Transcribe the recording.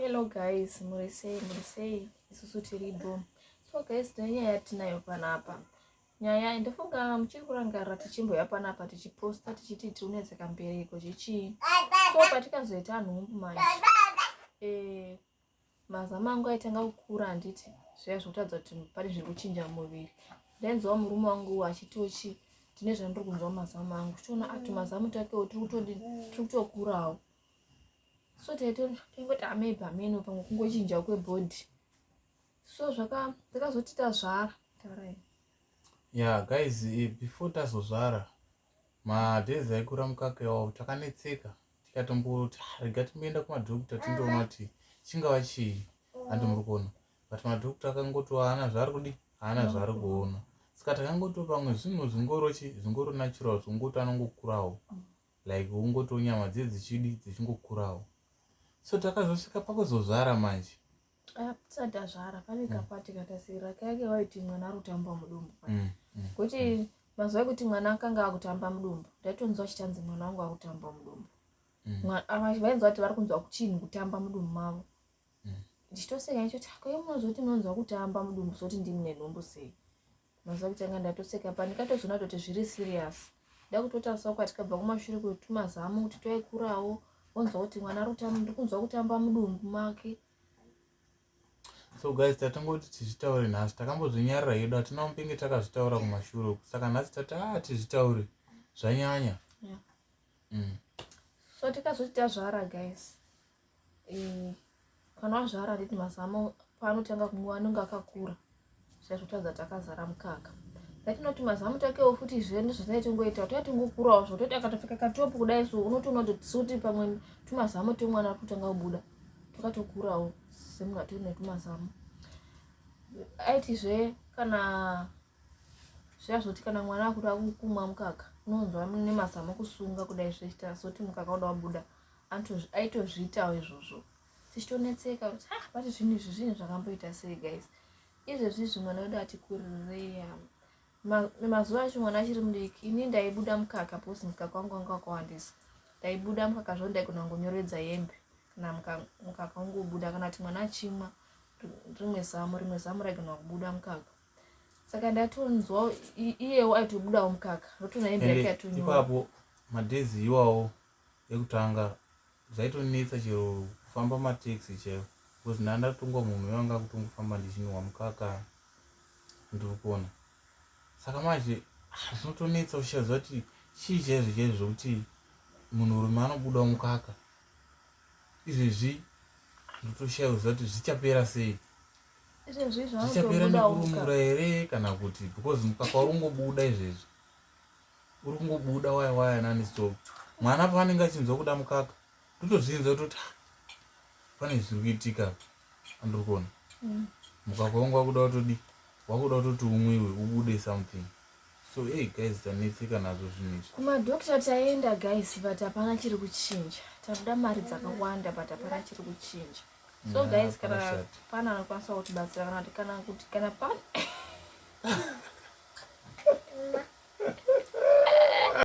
hello guys muri sei muri sei isusu tiripo so guys tine nyaya yatinayo panapa nyaya ndofunga muchiri kurangarira tichimboya panapa tichiposta tichiti tiri kunetsa kambereko chechii so patikazoita nhumbu manje eh, mazama angu aitanga kukura handiti zviya zvokutadza kuti pane zviri kuchinja muviri ndainzwa murume wangu achitiwo chii ndine zvandiri kunzwa mazama angu tichiona ati mazama takewo tiri kutokurawo so taitongoti amai bameno pamwe kungochinja kwebhodhi so zvakazoti tazvara tarai yeah guys eh, before tazozvara madays aikura mukaka iwawo takanetseka tikatomboti ah, rega timboenda kumadokta tindoona kuti chingava chii handi muri kuona but madokta akangoti haana zvaari kudi haana zvaari kuona saka takangoto pamwe zvinhu zvingorochi zvingoro natural zvongoto anongokurawo like ungotiwo nyama dziye dzichidi dzichingokurawo so takazosvika pakuzozvara manje ah, tisati azvara pane mm. kapati katasira kainge vaiti mwana ari kutamba mudumbu mm, mm, kuti mazuva ekuti mwana akanga akutamba mudumbu ndaitonzwa chichanzi mwana wangu akutamba mudumbu vainzwa kuti vari kunzwa kuchinhu kutamba mudumbu mavo ndichitoseka ndichoti akoye munozoti munonzwa kutamba mudumbu zoti ndimune nhumbu sei mazuva kutanga ndatoseka pa ndikatozoona toti zviri serious ndakutotarisa uko atikabva kumashure kutumazamu kuti toikurawo onzwa kuti mwana ndikunzwa kutamba mudumbu make so guys tatongoti tizvitaure nhasi takambozvinyarira hedu hatina mupenge takazvitaura kumashure uku saka nhasi tati a ah, tizvitaure zvanyanya yeah. mm. so tikazoti tazvara guys eh, kana wazvara handiti mazamo paanotanga kumwiwa anenge akakura saizvotadza takazara mukaka yatinoti mazamu takewo futi zve ndozvatine tingoita toya tingokurawo zvo toti akatopfeka katopu kudai so unotoona kuti tisuti pamwe tumazamu twemwana ari kutanga kubuda twakatokurawo semunhu atiri netumazamu aiti zve kana zviya zvoti kana mwana akuda kumwa mukaka unonzwa nemazamu kusunga kudai zvechita soti mukaka uda wabuda aitozviitawo izvozvo tichitonetseka kuti ha ah, vati zvinhu izvi zvinhu zvakamboita sei guys izvezvi izvi mwana wedu ati kurireya mazuva acho mwana achiri mudiki ini ndaibuda mukaka bcause mukaka wangu wanga wakawandisa ndaibuda mukaka zvoo ndaigona kungonyoredza hembe kana mukaka wangu ubuda kana kuti mwana achimwa rimwe zamu rimwe zamu raigona kubuda mukaka saka ndatonzwa iyewo aitobudawo mukaka ndotoona hembe yake yatonyora madhezi iwawo yekutanga zvaitonetsa chero kufamba mataxi chaiwo because ndaa ndatongwa munhu wevanga kutongofamba ndichinwa mukaka ndiri kuona saka manje ah, zvinotonetsa uchichaziva kuti chii chaizvo chaizvo zvokuti munhurume anobudawo mukaka izvezvi ndotoshaiwa ziva kuti zvichapera sei zvichapera nekurumura here kana kuti because mukaka uri ungobuda izvezvi uri kungobuda waya waya nani so mwana paanenge achinzwa kuda mukaka totozvinza toti ah, pane zviri kuitika andiri kuona mm. mukaka wangu wakuda watodi wakuda watoti umwiwe ubude something so hey guys tanetseka nazvo zvinhu izvi kumadokta taenda guys but hapana chiri kuchinja takuda mari dzakawanda but hapana chiri kuchinja so yeah, guys kana pana anokwanisa kutibatsira kana kuti kana kuti kana pana